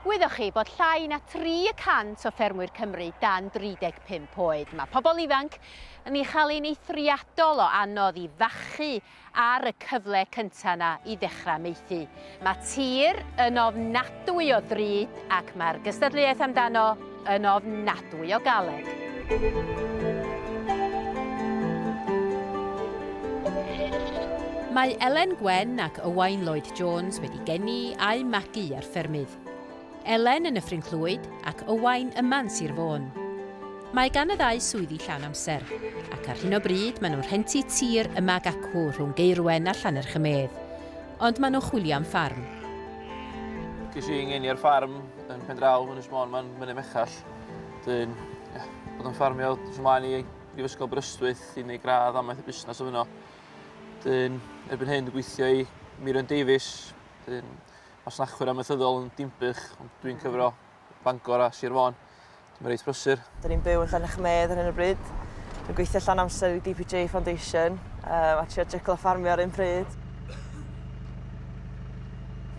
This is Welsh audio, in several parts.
Gwyddoch chi bod llai na tri y cant o ffermwyr Cymru dan 35 oed? Mae pobl ifanc yn ei chael hi'n eithriadol o anodd i fachu ar y cyfle cyntaf yna i ddechrau maethu. Mae tir yn ofnadwy o ddrud ac mae'r gystadleuaeth amdano Yn ofnadwy o galed. Mae Elen Gwen ac Ywain Lloyd Jones wedi geni a'u magu ar ffermydd. Elen yn Nyffryn Clwyd ac Ywain yma yn Sir Fôn. Mae gan y ddau swyddi llawn amser, ac ar hyn o bryd maen nhw'n rhentu tir yma ag acw rhwng Gaerwen a Llanerch-y-medd. Ond maen nhw'n chwilio am ffarm. Ges i 'y ngeni ar ffarm Yn pen draw yn Ynys Môn mae'n Mynydd Mechell. Dwi'n ia, bod yn ffarmio wrth ymlaen i Brifysgol Aberystwyth i wneud gradd amaeth y busnes o fyno. Dwi'n erbyn hyn dwi'n gweithio i Mirion Davies, dwi'n masnachwyr amaethyddol yn Dimbych, ond dwi'n cyfro Bangor a Sir Fôn. Mae'n reit brysur. Dyn ni'n byw yn Llanechmedd ar hyn o bryd. Dwi'n gweithio llan amser i DPJ Foundation um, a trio jyglo ffarmio ar un pryd.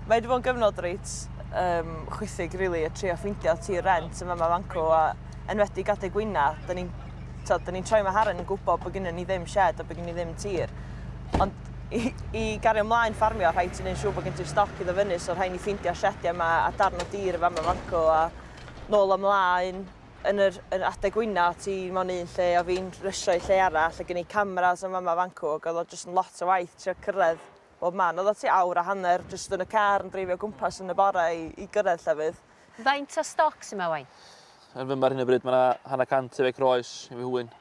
Mae wedi bod yn gyfnod reit um, chwithig, rili, really, a trio ffeindio tir rent yma mae fanco, a enwedig adeg wyna, da ni'n ni troi mae Haren yn gwybod bod gennym ni ddim shed a bod gennym ni ddim tir. Ond i, i gario ymlaen ffarmio, rhaid ti'n ei siŵr bod gen ti'r stoc iddo fyny, so rhaid ni ffeindio shediau yma a darn o dir yma mae fanco, a nôl a mlaen yn yr yn adeg wyna ti mewn un lle a fi'n rysio i lle arall a gen i cameras yn fama fan 'cw ag o'dd o jyst yn lot o waith trio cyrredd bob man. O'dd o tua awr a hanner jyst yn y car yn dreifio o gwmpas yn y bore i i gyrredd llefydd. Faint o stoc sy 'ma ŵan? Yn fyma ar hyn o bryd ma' 'na hanner cant o feic roes i fy Nhywyn.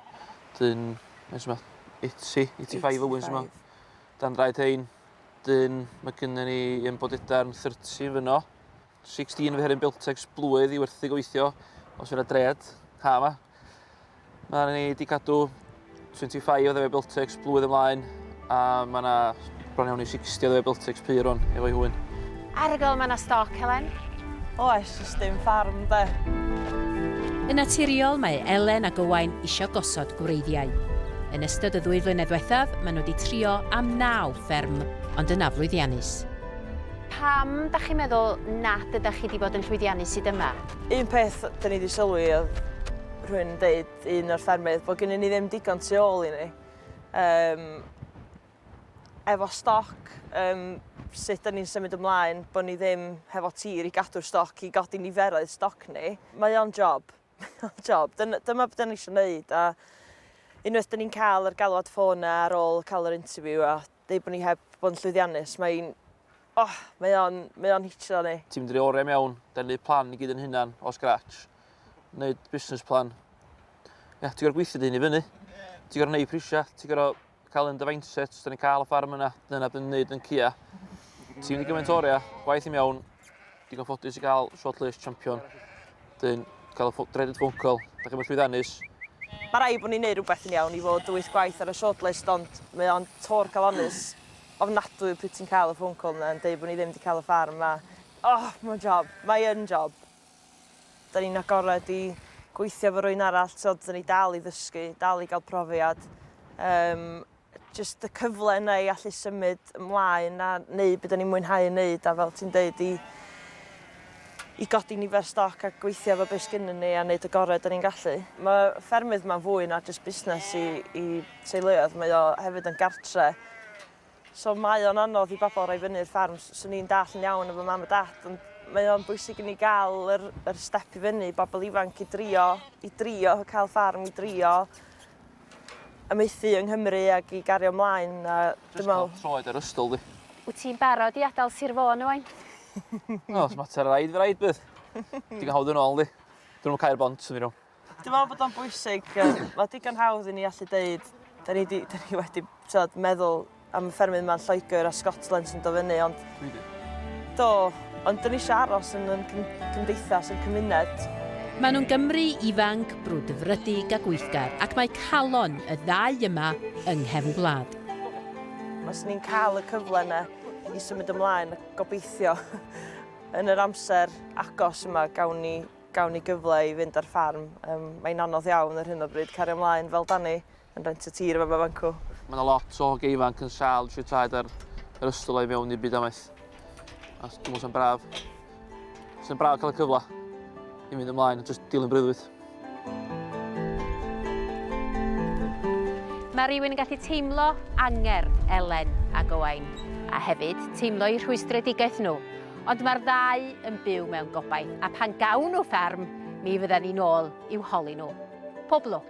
Dyn faint sy 'ma? Eighty, eighty five owens sy 'ma. Dan draed rhein. Dyn ma' gynnon ni un bod udarn thirty fynno. 16 fy herin Biltex blwydd i werthu gobeithio, os fydd yna dred, ha yma. Mae ni wedi cadw 25 o ddefe Biltex blwydd ymlaen, a mae yna bron iawn i 60 o ddefe Biltex pyr hwn, efo'i hwyn. Arygl, mae yna stoc, Helen? Oes, jyst dim ffarm, de. Yn naturiol, mae Elen ac Owain eisiau gosod gwreiddiau. Yn ystod y ddwy flynedd dwethaf, maen nhw wedi trio am naw fferm, ond yn aflwyddiannus. Pam dach chi'n meddwl nad ydach chi 'di bod yn llwyddiannus hyd yma? Un peth 'da ni 'di sylwi oedd rhywun yn deud, un o'r ffermydd, bod gennyn ni ddim digon tu ôl i ni. Um, efo stoc, um, sut da ni'n symud ymlaen, bod ni ddim hefo tir i gadw'r stoc, i godi niferoedd stoc ni. Mae o'n job. job. Dyna, dyma beth ni'n eisiau gwneud. A unwaith dyn ni'n cael yr galwad ffôn ar ôl cael yr interview a deud bod ni heb bod yn llwyddiannus, mae'n... Oh, mae o'n, mae o'n hitio ni. Ti'n mynd i'r oriau mewn, da ni'n neud plan i gyd yn hunan, o scratch. Neud business plan. Ie, yeah, ti'n gorau gweithio dy hyn i fyny. Ti'n gorau neud prisiau, ti'n gorau cael yn dy mindset, da ni'n cael y ffarm yna, dyna bydd yn neud yn cia. Ti'n mynd i gymaint oriau, gwaith i mewn, digon ffodus i gael shortlist champion. Dyn, cael y dreaded phone call. Da chi'n mwyn llwyddanus. Mae rai bod ni'n neud rhywbeth yn iawn i fod wyth gwaith ar y shortlist, ond mae o'n tor calonus ofnadwy pryd ti'n cael y phone call yna yn dweud bod ni ddim wedi cael y ffarm yma. Oh, mae'n job. Mae yn job. Da ni'n agored i gweithio fo rwy'n arall, so da ni dal i ddysgu, dal i gael profiad. Um, jyst y cyfle yna i allu symud ymlaen a neud be 'dan ni'n mwynhau yn neud a fel ti'n deud i i godi nifer stoc a gweithio efo be' sgynnyn ni a neud y gore 'dan ni'n gallu. Ma' ffermydd 'ma'n fwy na jyst busnes i i teuluoedd mae o hefyd yn gartre so mae o'n anodd i bobol roi fyny i'r fferm s- swn i'n dallt yn iawn efo mam a dat ond mae o'n bwysig i ni ga'l yr yr step i fyny i bobol ifanc i drio i drio ca'l ffarm i drio amaethu yng Nghymru ac i gario mlaen a dwi'n me'wl... Jyst cael troed ar ystol di. Wyt ti'n barod i adal Sir Fôn rŵan? Wel, os mater o raid fy raid bydd. Digon hawdd yn ôl di. Dyn nhw'n cau'r bont yn ddiron. Dwi'n meddwl bod o'n bwysig, mae digon hawdd i ni allu deud, da ni, di, da ni wedi tywed, meddwl Am y ffermydd yma yn Lloegr a Scotland sy'n dod fyny, ond... Dwi di. Do, ond dyn ni eisiau aros yn yn cymdeithas, yn cymuned. Maen nhw'n Gymry ifanc, brwdfrydig a gweithgar, ac mae calon y ddau yma yng nghefn gwlad. Os ni'n cael y cyfle yna i symud ymlaen, gobeithio yn yr amser agos yma gawn ni, gawn ni gyfle i fynd ar ffarm. Um, mae'n anodd iawn ar hyn o bryd cario ymlaen fel dan ni. yn rent y tir yma fanco. Mae yna lot o hogiau ifanc yn sal drwy traed ar yr ystol o'i mewn i'r byd amaeth. A dwi'n meddwl sy'n braf. Sy'n braf cael y cyfle i fynd ymlaen a jyst dilyn breuddwyd. Mae rhywun yn gallu teimlo anger Elen a Gowain, a hefyd teimlo i rhwystredigaeth nhw. Ond mae'r ddau yn byw mewn gobaith, a pan gawn nhw fferm, mi fydda ni'n ôl i'w holi nhw. Pob lwc!